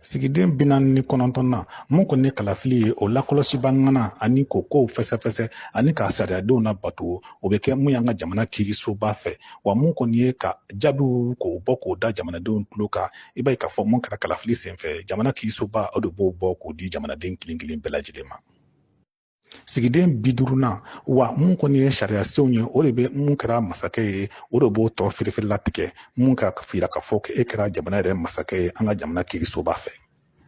sigiden bi naani ni kɔnɔntɔn na mun kɔni ye kalafili ye o lakɔlɔsibaa ŋana ani k'o kow fɛsɛfɛsɛ ani k'a sariyadenw nabato o bɛ kɛ mun y'an ka jamana kirisoba fɛ wa mun kɔni ye ka jaabiw k'o bɔ k'o da jamanadenw tulo kan i b'a ye k'a fɔ mun kɛra kalafili senfɛ jamana kirisoba o de b'o bɔ k'o di jamanaden kelen kelen bɛɛ lajɛlen ma sigiden bi duurunan wa mun kɔni ye sariya senw ye o de bɛ mun kɛra masakɛ ye o de b'o tɔ firifiri latigɛ mun k'a yira k'a fɔ e kɛra jamana yɛrɛ masakɛ ye an ka jamana kirisoba fɛ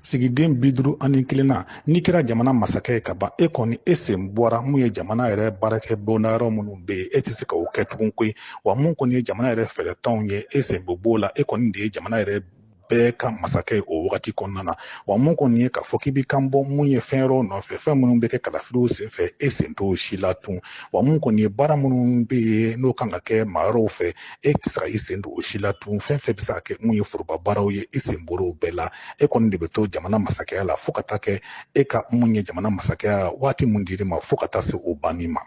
sigiden bi duuru ani kelennan n'i kɛra jamana masakɛ ye ka ban e kɔni e sen bɔra mun ye jamana yɛrɛ baarakɛ bonda yɔrɔ minnu bɛ yen e tɛ se ka o kɛ tugun koyi wa mun kɔni ye jamana yɛrɛ fɛɛrɛtɔnw ye e sen bɛ b'o la e kɔni de ye jamana yɛrɛ bɛɛ ka masakɛ ye o wagati kɔnɔna na wa mun kɔni ye k'a fɔ k'i bɛ kan bɔ mun ye fɛn yɔrɔw nɔfɛ fɛn minnu bɛ kɛ kalafiliw senfɛ e sen t'o si la tun wa mun kɔni ye baara minnu bɛ yen n'o kan ka kɛ maa wɛrɛw fɛ e tɛ se ka i sen don o si la tun fɛn fɛn bɛ se ka kɛ mun ye foroba baaraw ye i sen bɔra o bɛɛ la e kɔni de bɛ to jamana masakɛya la fo ka taa kɛ e ka mun ye jamana masakɛya waati mun dir'i ma fo ka taa se o banni ma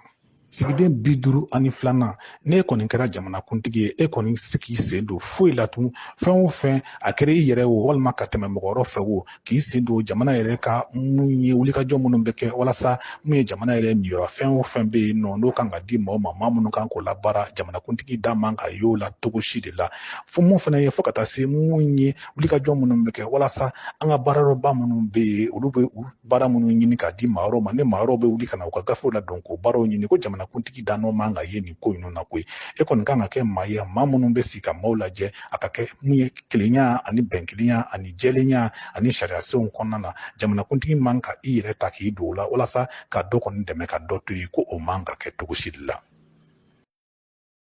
sigiden bi duuru ani filanan n'e kɔni kɛra jamanakuntigi ye e kɔni tɛ se k'i sen don foyi la tun fɛn o fɛn a kɛra i yɛrɛ wo walima ka tɛmɛ mɔgɔ wɛrɛ fɛ wo k'i sen don jamana yɛrɛ ka mun ye wulikajɔ minnu bɛ kɛ walasa mun ye jamana yɛrɛ niyɔrɔ fɛn o fɛn bɛ yen nɔ n'o kan ka di maa ma maa minnu kan k'o labaara jamanakuntigi da man ka y'o la cogo si de la fo mun fana ye fo ka taa se mun ye wulikajɔ minnu bɛ kɛ walasa an ka baarayɔrɔba minnu bɛ yen olu bɛ u baara minnu ɲini k'a di maa wɛrɛw ma ni maa wɛrɛw bɛ wuli ka na u ka gafew ladon k'o baaraw ɲini ko jamanakuntigi da nɔ man ka ye nin ko ninnu na koyi e kɔni kan ka kɛ maa ye maa minnu bɛ sigi ka maaw lajɛ a ka kɛ mun ye kelenya ani bɛnkelenya ani jɛlenya ani sariya senw kɔnɔna na jamanakuntigi man ka i yɛrɛ ta k'i don o la walasa ka dɔ kɔni dɛmɛ ka dɔ to yen ko o man ka kɛ cogo si de la